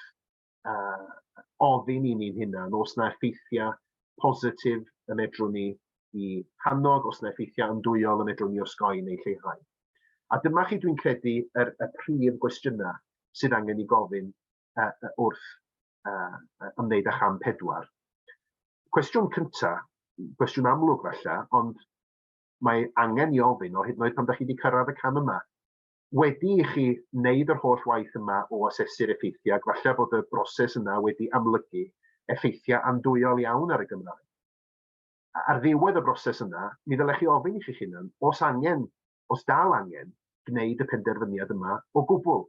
uh, ofyn i ni'n hunan os na effeithiau positif y medrwn ni i hannog, os na effeithiau yndwyol y medrwn ni osgoi neu lleihau. A dyma chi dwi'n credu yr, y prif gwestiynau sydd angen i gofyn uh, wrth uh, ymwneud â cham pedwar. Cwestiwn cynta, cwestiwn amlwg falle, ond mae angen i ofyn o hyd yn oed pan da chi wedi cyrraedd y cam yma. Wedi i chi wneud yr holl waith yma o asesu'r effeithiau, ac falle bod y broses yna wedi amlygu effeithiau andwyol iawn ar y Gymraeg. Ar ddiwedd y broses yna, mi ddylech chi ofyn i chi'ch hunan os angen, os dal angen, gwneud y penderfyniad yma o gwbl.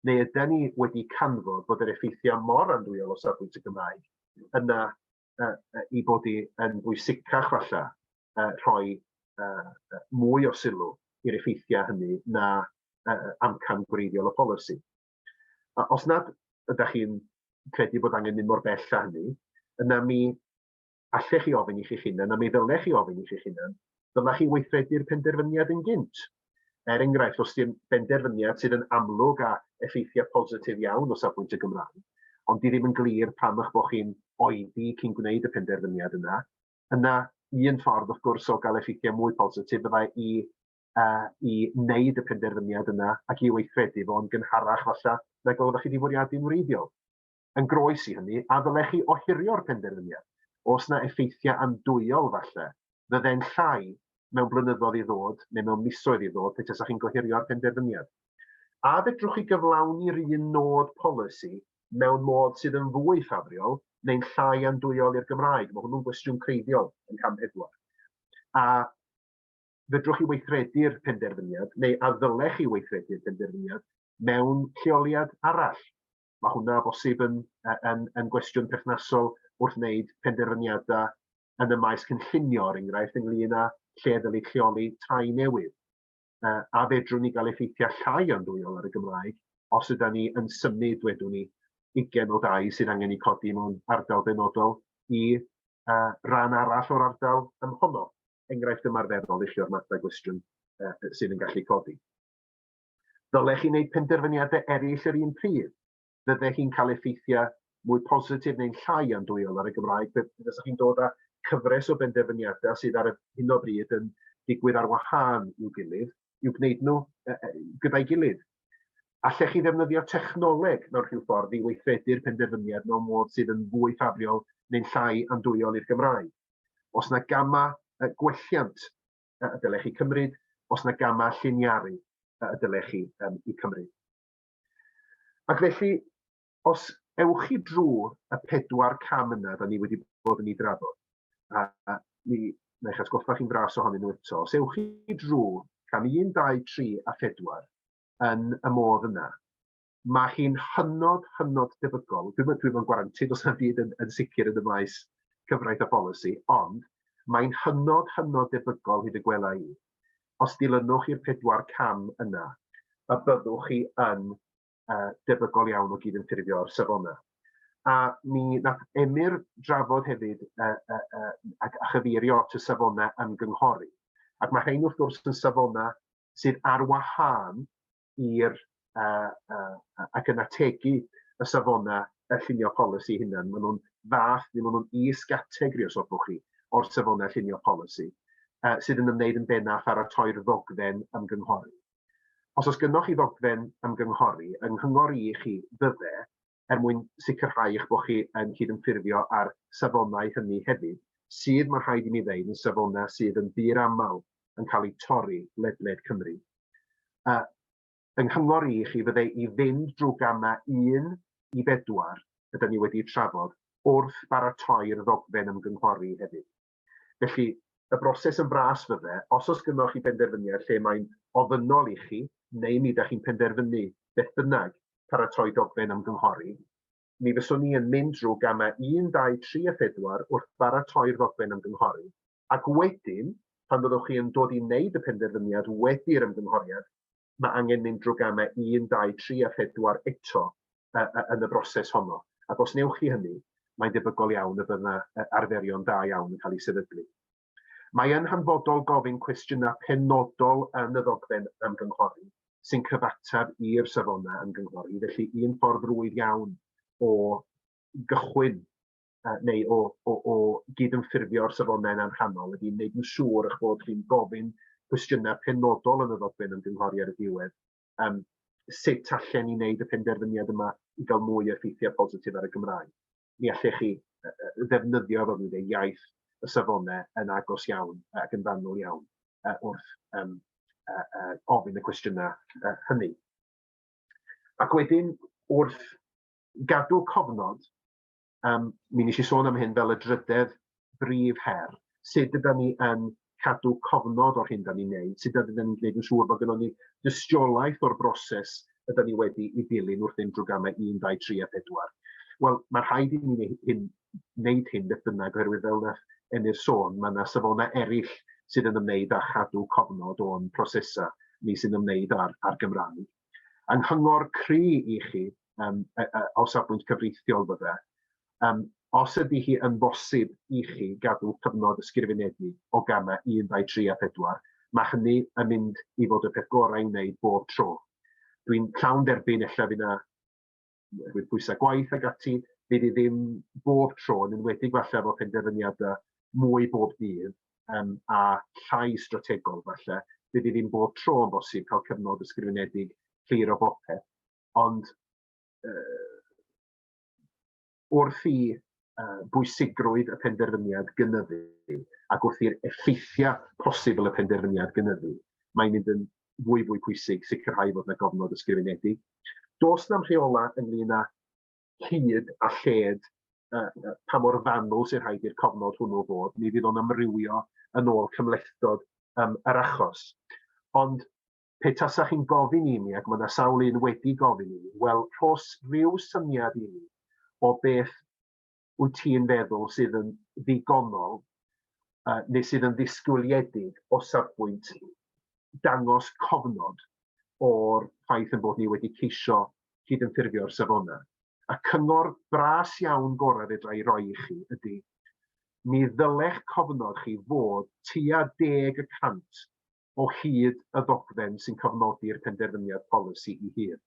neu yden ni wedi canfod bod yr effeithiau mor andwyol o safbwynt y Gymraeg yna uh, uh, i bod i yn bwysicach falle uh, rhoi uh, mwy o sylw i'r effeithiau hynny na uh, amcan gwreiddiol y polisi. A os nad ydych chi'n credu bod angen mynd mor bell â hynny, yna mi allech chi ofyn i chi'ch hunan, a mi ddylech chi ofyn i chi'ch hunan, dylech chi weithredu'r penderfyniad yn gynt. Er enghraifft, os di'n benderfyniad sydd yn amlwg a effeithiau positif iawn o safbwynt y Gymraeg, ond di ddim yn glir pam eich bod chi'n oedi cyn gwneud y penderfyniad yna, yna un ffordd wrth gwrs o gael effeithiau mwy positif fyddai i uh, i wneud y penderfyniad yna ac i weithredu fo'n gynharach falle nag oeddech chi wedi fwriadu'n wreiddiol. Yn groes i hynny, a ddylech chi ohirio'r penderfyniad? Oes 'na effeithiau andwyol, falle, fydde'n llai mewn blynyddoedd i ddod, neu mewn misoedd i ddod, pe tasech chi'n gohirio'r penderfyniad? A fedrwch chi gyflawni'r un nod polisi mewn modd sydd yn fwy ffafriol, neu'n llai andwyol i'r Gymraeg? Mae hwnnw'n gwestiwn creiddiol yn cam pedwar. A fedrwch chi weithredu'r penderfyniad, neu a ddylech chi weithredu'r penderfyniad, mewn lleoliad arall? Mae hwnna o bosib yn yn yn gwestiwn perthnasol wrth wneud penderfyniadau yn y maes cynllunio, er enghraifft, ynglyn â lle ddylid lleoli tai newydd, uh, a fedrwn ni gael effeithiau llai andwyol ar y Gymraeg os yda ni yn symud, dwedwn ni, ugen o dai sydd angen eu codi mewn ardal benodol i uh, ran arall o'r ardal ymhono. Enghraifft ymarferol i chi o'r mathau gwestiwn uh, sydd yn gallu codi. Ddylech chi wneud penderfyniadau eraill yr un pryd? Fydde hi'n cael effeithiau mwy positif neu'n llai andwyol ar y Gymraeg pe fysa chi'n dod â cyfres o benderfyniadau sydd ar hyn o bryd yn digwydd ar wahân i'w gilydd, i'w gwneud nhw gyda'i gilydd? Allech chi ddefnyddio technoleg mewn rhyw ffordd i weithredu'r penderfyniad mewn modd sydd yn fwy ffafriol neu'n llai andwyol i'r Gymraeg? Oes yna gamau gwelliant? y dylech chi cymryd, os na gamau lliniaru y dylech chi um, i cymryd. Ac felly, os ewch chi drwy y pedwar cam yna, da ni wedi bod yn ei drafod, a, a mi neu eich atgoffa chi'n fras ohonyn nhw eto. Os ewch chi drwy cam 1, 2, 3 a 4 yn y modd yna, Mae hi'n hynod, hynod debygol, dwi'm yn dwi gwarantid os na byd yn, yn sicr yn y maes cyfraith a pholisi, ond mae'n hynod, hynod debygol hyd y gwela i, os dilynwch i'r pedwar cam yna, y byddwch chi yn uh, debygol iawn o gydymffurfio'r safonau. A mi nath Emyr drafod hefyd uh, uh, uh, a, a chyfeirio at y safonau ymgynghori. Ac mae rhain wrth gwrs yn safonau sydd ar wahân i'r yy yy ac yn ategu y safona y llunio polisi hunan. Maen nhw'n fath, neu maen nhw'n is-gategri os hoffwch chi, o'r safona llunio polisi uh, sydd yn ymwneud yn benaf pharatoi'r ddogfen ymgynghori. Os oes gynnwch chi ddogfen ymgynghori yng nghyngor i chi, fydde er mwyn sicrhau eich bod chi yn cydymffurfio â'r safonau hynny hefyd, sydd, mae'n rhaid i mi ddeud, yn safonau sydd yn ddiraml yn cael eu torri ledled Cymru. A, fy nghyngor i i chi fydde i fynd drwy gamau 1 i 4 y da ni wedi'u trafod wrth baratoi'r ddogfen ymgynghori hefyd. Felly, y broses yn fras fydde, os oes gynnoch chi benderfyniad lle mae'n ofynnol i chi, neu mi ydych chi'n penderfynu, beth bynnag, paratoi dogfen ymgynghori, mi fyswn i yn mynd drwy gamau un, dau, tri a phedwar wrth baratoi'r ddogfen ymgynghori, ac wedyn, pan fyddwch chi yn dod i wneud y penderfyniad wedi'r ymgynghoriad, mae angen mynd drwy gamau 1, 2, 3 a 4 eto yn y broses honno, ac os wnewch chi hynny, mae'n debygol iawn y bydd yna arferion da iawn yn cael eu sefydlu. Mae yn hanfodol gofyn cwestiynau penodol yn y ddogfen ymgynghori sy'n cyfateb i'r safonau ymgynghori, felly un ffordd rwydd iawn o gychwyn neu o, o, o gydymffurfio'r safonau yna'n rhannol ydy wneud yn siŵr eich bod chi'n gofyn cwestiynau penodol yn y ddogfen ymgynghori ar y diwedd. Um, sut allan ni wneud y penderfyniad yma i gael mwy o effeithiau positif ar y Gymraeg? Mi allech chi ddefnyddio fel dwi'n iaith y safonau yn agos iawn ac yn fanwl iawn uh, wrth um, uh, uh, ofyn y cwestiynau uh, hynny. Ac wedyn, wrth gadw cofnod Um, mi nes i sôn am hyn fel y drydedd brif her. Sut ydym ni yn cadw cofnod o'r hyn da ni'n neud? Sut ydym ni'n gwneud yn siŵr bod gennym ni dystiolaeth o'r broses ydym ni wedi i ddilyn wrth unrhyw gamau 1, 2, 3 a 4? Wel, mae rhaid i ni wneud hyn, wneud hyn beth bynnag, oherwydd fel na Emyr sôn, mae yna safonau eraill sydd yn ymwneud â chadw cofnod o'n prosesau ni sy'n ymwneud â'r, ar Gymraeg. Yng nghyngor cry i chi, um, uh, uh, o safbwynt cyfreithiol fydde, um, os ydy hi yn bosib i chi gadw cyfnod ysgrifenedig o gamau 1, 2, 3 a 4, mae hynny yn mynd i fod y peth gorau i wneud bob tro. Dwi'n llawn derbyn efallai fydd yna oherwydd pwysau gwaith ac ati, fydd hi ddim bob tro, yn enwedig falle efo penderfyniadau mwy bob dydd um, a llai strategol falle, fydd hi ddim bob tro yn bosib cael cyfnod ysgrifenedig clir o bopeth. Ond uh, wrth i uh, bwysigrwydd y penderfyniad gynyddu ac wrth i'r effeithiau posibl y penderfyniad gynyddu, mae'n mynd yn fwy fwy pwysig sicrhau fod yna gofnod ysgrifenedig. Does na'm rheola ynglyn â hyd a lled uh, pa mor fanwl sy'n rhaid i'r cofnod hwnnw fod. Mi fydd o'n amrywio yn ôl cymhlethdod um, yr achos. Ond pe tasa chi'n gofyn i mi, ac mae yna sawl un wedi gofyn i mi, wel, rhos rhyw syniad i mi o beth wyt ti'n feddwl sydd yn ddigonol uh, neu sydd yn ddisgwyliedig o safbwynt dangos cofnod o'r ffaith yn bod ni wedi ceisio cydymffurfio'r safonau. A cyngor bras iawn gorau fedra i roi i chi ydy, mi ddylech cofnod chi fod tua deg y cant o hyd y ddogfen sy'n cofnodi'r penderfyniad polisi i hun.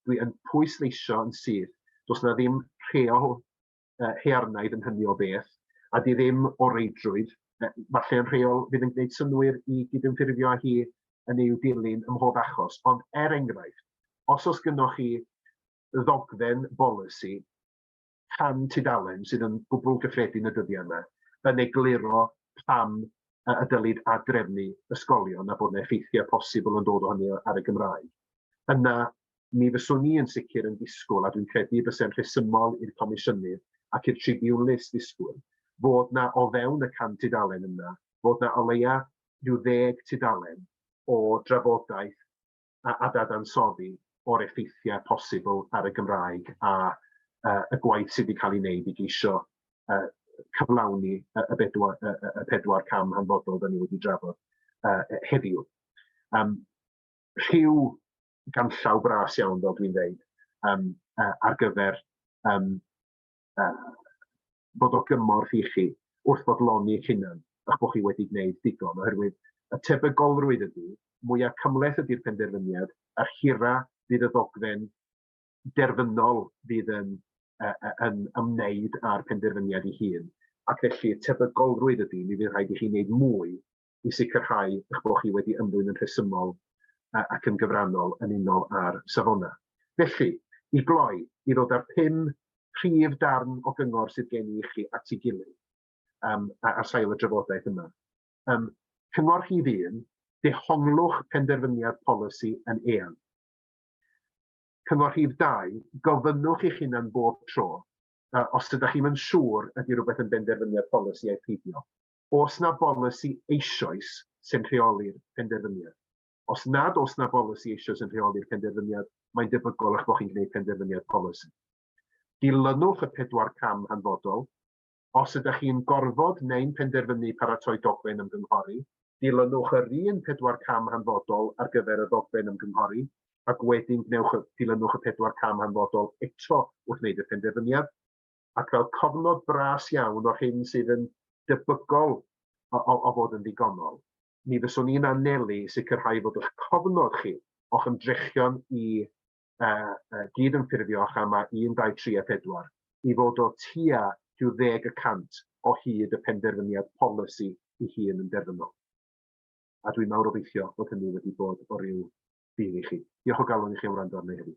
Dwi yn pwysleisio yn syth, does na ddim rheol uh, hearnaidd yn hynny o beth, a di ddim o reidrwydd, falle yn rheol fydd yn gwneud synwyr i gydymffurfio â hi yn ei dilyn ym mhob achos, ond er enghraifft, os oes gynnwch chi ddogfen bolisi rhan tudalen sydd yn gwbl gyffredin y dyddiau yma yn egluro pam y dylid ad-drefnu ysgolion a bod yna effeithiau posibl yn dod o hynny ar y Gymraeg. Yna, mi fyswn i yn sicr yn disgwyl, a dwi'n credu y byse'n rhesymol i'r Comisiynydd ac i'r Tribiwnlys ddisgwyl, fod yna o fewn y 100 tudalen yna, fod yna o leia' rhyw ddeg tudalen o drafodaeth a dadansoddi o'r effeithiau posibl ar y Gymraeg a y gwaith sydd wedi cael ei wneud i geisio cyflawni y bedwar, y pedwar cam hanfodol da ni wedi drafod heddiw. Um, rhyw ganllaw bras iawn, fel dwi'n dweud, um, ar gyfer um, uh, fod o gymorth i chi wrth fodloni'ch hunan a'ch bod chi wedi gwneud digon, oherwydd y tebygolrwydd ydy, mwya' cymhleth ydy'r penderfyniad, yr hira fydd y ddogfen derfynol fydd yn yn ymwneud â'r penderfyniad ei hun, ac felly y tebygolrwydd ydy, mi fydd rhaid i chi wneud mwy i sicrhau eich bod chi wedi ymddwyn yn rhesymol ac yn gyfrannol yn unol â'r Safonau. Felly, i gloi, i ddod â'r pum prif darn o gyngor sydd gen i i chi at ei gilydd um, ar sail y drafodaeth yma. Um, cyngor rhif un, dehonglwch penderfyniad polisi yn eang. Cyngor rhif dau, gofynnwch i'ch hunan bob tro uh, os ydych chi'n yn siŵr ydy rhywbeth yn benderfyniad polisi a'i peidio. Oes 'na bolisi eisoes sy'n rheoli'r penderfyniad? Os nad oes 'na bolisi eisoes yn rheoli'r penderfyniad, mae'n debygol eich bod chi'n gwneud penderfyniad polisi. Dilynwch y pedwar cam hanfodol. Os ydych chi'n gorfod neu'n penderfynu paratoi dogfen ymgynghori, dilynwch yr un pedwar cam hanfodol ar gyfer y ddogfen ymgynghori, ac wedyn gwnewch y, dilynwch y pedwar cam hanfodol eto wrth wneud y penderfyniad. ac fel cofnod bras iawn o'r hyn sydd yn debygol o, o, o fod yn ddigonol, mi fyswn i'n anelu i sicrhau fod eich cofnod chi o'ch ymdrechion i uh, uh, gyd yn ffurfio chama 1, 2, 3 a 4 i fod o tua rhyw ddeg y cant o hyd y penderfyniad polisi i hun yn derfynol. A dwi'n mawr obeithio bod hynny wedi bod o ryw ffydd i chi. Diolch o galon i chi am wrando arni heddiw.